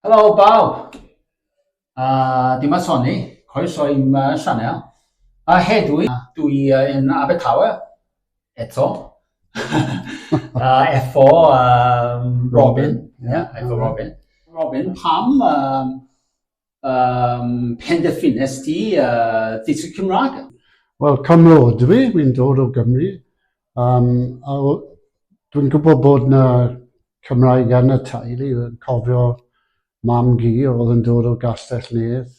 Helo bawb! A dyma Soni, croeso i'm sianel. A hedwi, dwi yn Abertawe, eto. a efo um, Robin, yeah, efo Robin. Robin, pam um, um, penderfynes ti uh, ddysgu Cymraeg? Wel, cymryd dwi, wy'n dod o Gymru, Um, a dwi'n gwybod bod na Cymraeg yn y teulu, yn cofio mam gi oedd yn dod o Gastell Nedd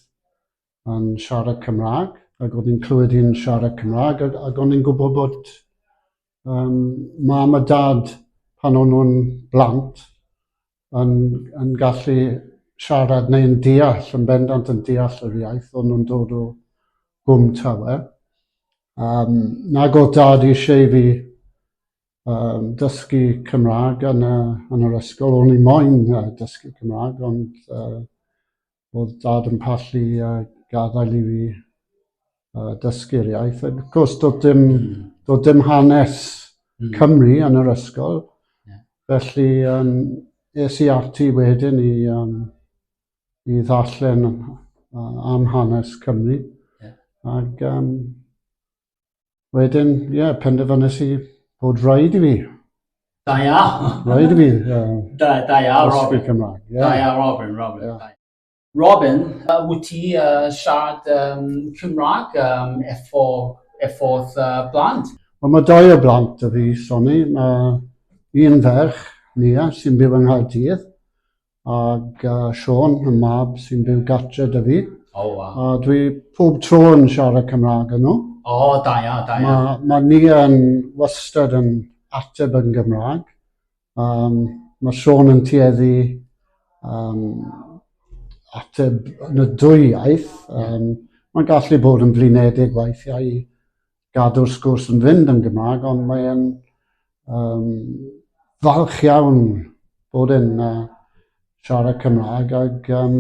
yn siarad Cymraeg, ac oedd yn clywed i'n siarad Cymraeg, ac, ac o'n i'n gwybod bod um, mam a dad pan o'n nhw'n blant, yn, yn gallu siarad neu'n deall, yn bendant yn deall yr iaith, o'n nhw'n dod o gwm tawe. Um, nag oedd dad eisiau fi um, dysgu Cymraeg yn, y, yn yr ysgol, o'n i moyn uh, dysgu Cymraeg, ond uh, oedd dad yn pallu a gadael i fi uh, dysgu'r iaith. Ac wrth gwrs, doedd dim, mm. doedd dim hanes mm. Cymru yn yr ysgol. Yeah. Felly, um, es i ati wedyn i, um, i ddarllen uh, am hanes Cymru. Yeah. Ac um, Wedyn, ie, yeah, penderfynnes i bod rhaid i fi. Da iawn. Rhaid i fi. Uh, da, da iawn, Robin. Cymraeg. Yeah. Da iawn, Robin, Robin. Yeah. Robin, uh, wyt ti uh, siarad um, Cymraeg um, efo, efo uh, blant? Wel, mae dau o blant y fi, Sonny. Mae un ferch, Nia, sy'n byw yng Nghaerdydd, Ac uh, Sean, y mab sy'n byw gartre dy fi. O, oh, wow. A dwi pob tro yn siarad Cymraeg yn nhw. O, oh, da ia, da ia. Mae ma ni yn wastad yn ateb yn Gymraeg. Um, mae Sean yn tueddu um, ateb yn y dwy iaith. Um, Mae'n gallu bod yn flinedig weithiau i gadw'r sgwrs yn fynd yn Gymraeg, ond mae e'n um, falch iawn bod yn uh, siarad Cymraeg ac um,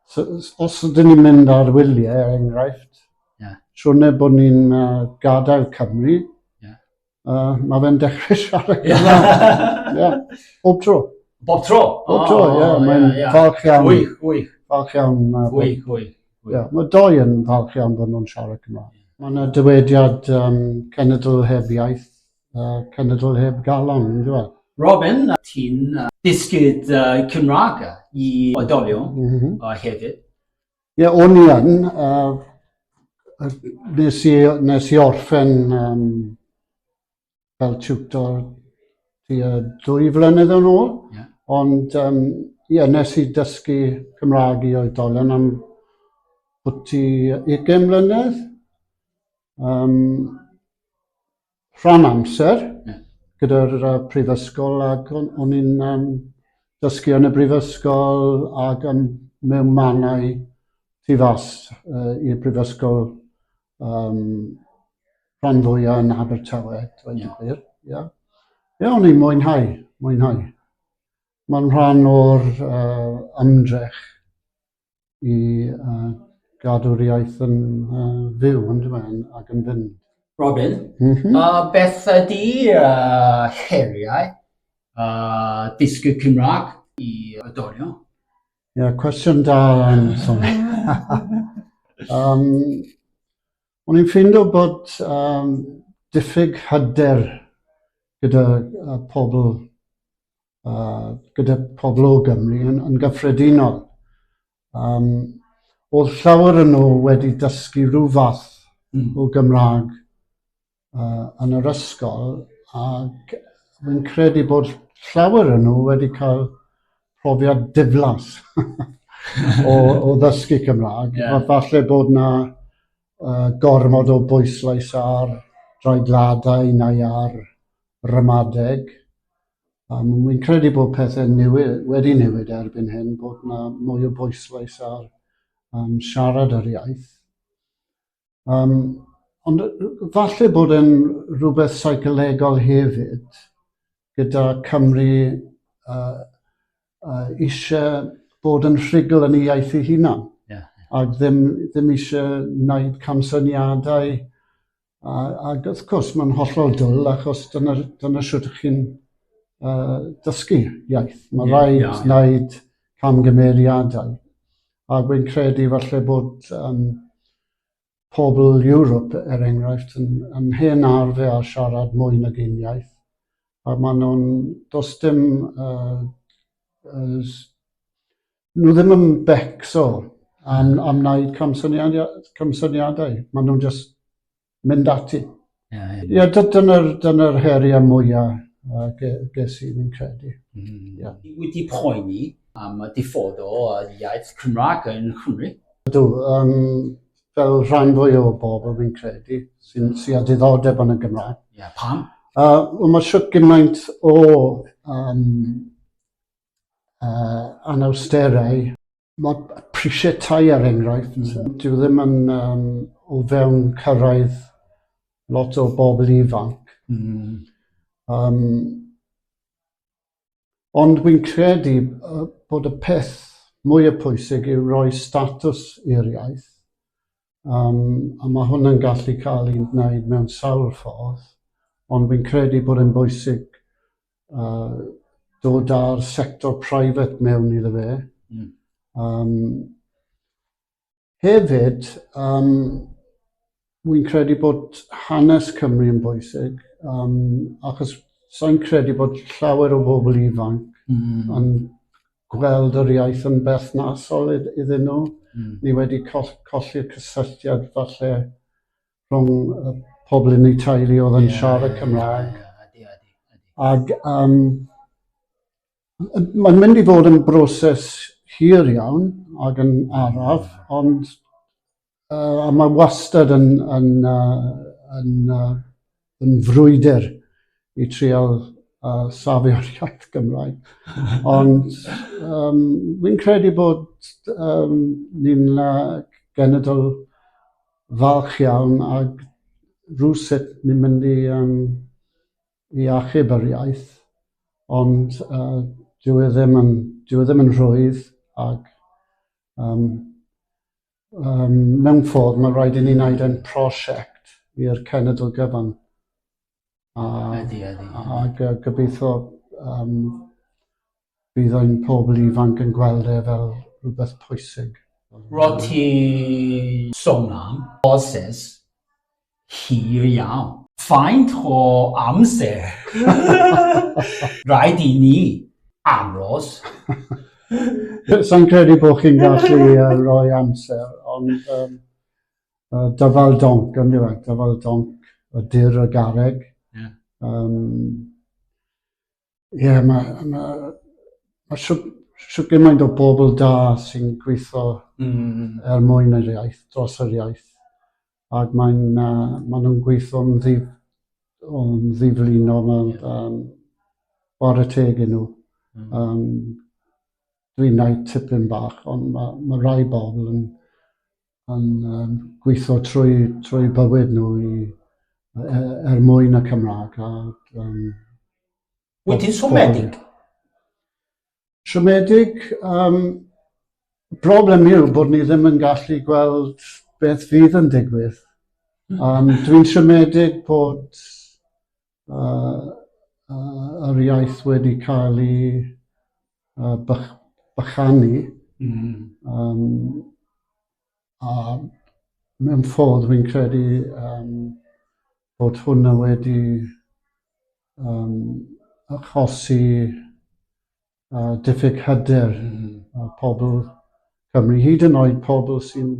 so, os ydyn ni'n mynd ar wyliau, er enghraifft, yeah. siwrne bod ni'n uh, gadael Cymru, yeah. uh, mae fe'n dechrau siarad Cymraeg. yeah. Bob tro. Bob tro? Bob tro, ie. Oh, yeah, yeah. Mae'n yeah. falch iawn. Gwych, gwych. Falch iawn. Uh, gwych, gwych. Ie, mae dou yn falch iawn bod nhw'n siarad Cymraeg. Mae yna dywediad um, cenedl heb iaith, uh, cenedl heb galon, yn dweud. Robin, ti'n uh, dysgyd uh, Cymraeg i oedolion mm -hmm. uh, hefyd? Ie, yeah, o'n i yn. Uh, nes, i, nes i orffen um, fel tiwtor tua dwy flynedd yn ôl. Yeah. Ond um, yeah, nes i dysgu Cymraeg i oedolion am bwti 20 mlynedd. Um, rhan amser yeah. gyda'r uh, prifysgol ac o'n i'n um, dysgu yn y brifysgol ac yn mewn manau tu fas uh, i'r brifysgol Um, rhan fwyaf yn Abertawe, dweud yn gwir. Ie, yeah. o'n i'n mwynhau, mwynhau. Mae'n rhan o'r uh, ymdrech i uh, gadw'r iaith yn uh, fyw, yn dweud, ac yn fynd. Robin, mm -hmm. uh, beth ydy uh, heriau uh, dysgu Cymraeg i y dorion? Ie, yeah, cwestiwn da yn Tony. um, o'n i'n ffindo bod um, diffyg hyder gyda uh, pobl uh, gyda pobl o Gymru yn, yn gyffredinol. Um, oedd llawer yn nhw wedi dysgu rhyw fath mm. o Gymraeg uh, yn yr ysgol ac fi'n credu bod llawer yn nhw wedi cael profiad diflas o, o ddysgu Cymraeg. Yeah. Falle bod na uh, gormod o bwyslais ar draedladau neu ar ramadeg. Um, Wy'n credu bod pethau newid, wedi newid erbyn hyn, bod na mwy o bwyslais ar um, siarad yr iaith. Um, ond falle bod yn rhywbeth seicolegol hefyd gyda Cymru uh, uh, eisiau bod yn rhugl yn ei iaith ei hunan. Yeah. Ac ddim, ddim eisiau wneud camsyniadau. A, ac wrth gwrs, mae'n hollol dwl achos dyna, dyna sut ych chi'n uh, dysgu iaith. Mae yeah, rhaid yeah, yeah. wneud camgymeriadau. A wi'n credu falle bod yym pobl Europe er enghraifft yn yn hen arfer â siarad mwy nag un iaith a ma' nhw'n does dim yy yy s- nhw ddim yn becso am am wneud camsyniad- camsyniadau ma' nhw'n jyst mynd ati. Ie, yeah, yeah. yeah, dyna'r dyna heriau mwyaf uh, ges i, fi'n credu. Mm. Yeah. Wedi poeni am y diffod o iaith Cymraeg yn Cymru? Ydw, um, fel rhan fwy o bobl fi'n credu sy'n sy a diddordeb yn y Gymraeg. Ie, yeah, pam? Uh, well, mae siwt gymaint o um, uh, anawsterau Mae prisiau tai er enghraifft, dyw e ddim yn yym o fewn cyrraedd lot o bobl ifanc. Mm. Um, ond wy'n credu bod y peth mwyaf pwysig yw roi statws i'r iaith Um, a mae hwnna'n gallu cael ei wneud mewn sawl ffordd, ond fi'n credu bod yn bwysig uh, dod â'r sector private mewn iddo fe. Mm. Um, hefyd, um, wy'n credu bod hanes Cymru yn bwysig, um, achos sa'n credu bod llawer o bobl ifanc mm. yn gweld yr iaith yn berthnasol iddyn nhw. Mm. Ni wedi colli'r cysylltiad falle rhwng y pobl yn ei teulu oedd yn yeah, siarad Cymraeg. Yeah, Ac um, mae'n mynd i fod yn broses hir iawn ac yn araf, ond Uh, a mae wastad yn, yn, uh, yn, uh, yn frwydr i trial uh, safio'r iaith Gymraeg. Ond um, fi'n credu bod um, ni'n uh, genedl falch iawn ag rhywsut ni'n mynd i, um, i achub yr iaith, ond uh, dyw, e ddim yn, dyw e ddim yn rhwydd ac um, Um, mewn ffordd, mae'n rhaid i ni wneud yn prosiect i'r cenedl gyfan. A, ydy, ydy. Ac uh, gobeithio um, bydd ein pobl ifanc yn gweld e fel rhywbeth pwysig. Rwyt ti sôn am Ozes hir iawn. Faint o amser? Rhaid i ni aros. Sa i'n credu bod chi'n gallu rhoi amser, ond um, uh, dyfal donc, yn dweud, dyfal donc y dyr y garreg. Yeah. Um, Ie, yeah, mae ma, ma so, so gymaint o bobl da sy'n gweithio mm. er mwyn yr iaith, dros yr iaith. Ac mae'n uh, ma nhw'n gweithio yn ddif, o'n ddiflino, mae'n yeah. um, bore teg yn nhw. Mm. Um, dwi'n gwneud tipyn bach, ond mae ma rai bobl yn yn um, gweithio trwy, trwy bywyd nhw i, er, er mwyn y Cymraeg. A, um, Wyt ti'n siomedig? Siomedig, um, broblem yw bod ni ddim yn gallu gweld beth fydd yn digwydd. Um, dwi'n siomedig bod yr iaith wedi cael ei bychanu a mewn ffordd fi'n credu bod hwnna wedi achosi a diffyg hyder a pobl Cymru, hyd yn oed pobl sy'n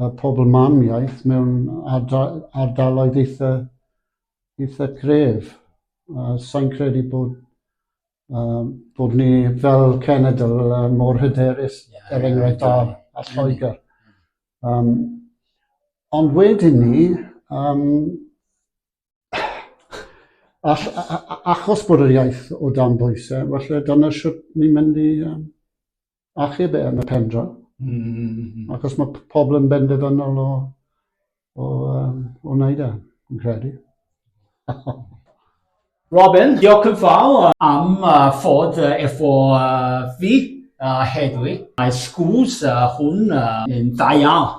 a pobl mam iaith mewn ardaloedd eitha, eitha gref. A sa'n credu bod, uh, bod ni fel cenedl uh, mor hyderus, yeah, er enghraifft yeah, yeah. a, a Lloegr. Um, ond wedyn ni, um, All, a, a, a, achos bod yr iaith o dan bwysau, felly dyna sut ni'n mynd i um, achub e yn y pendro. Mm. Mm-hmm. Achos mae pobl yn benderfynol o, o, um, o wneud e, yn credu. Robin, diolch yn fawr am uh, fod uh, efo uh, fi uh, heddi. Mae sgwrs uh, hwn uh, yn dda iawn.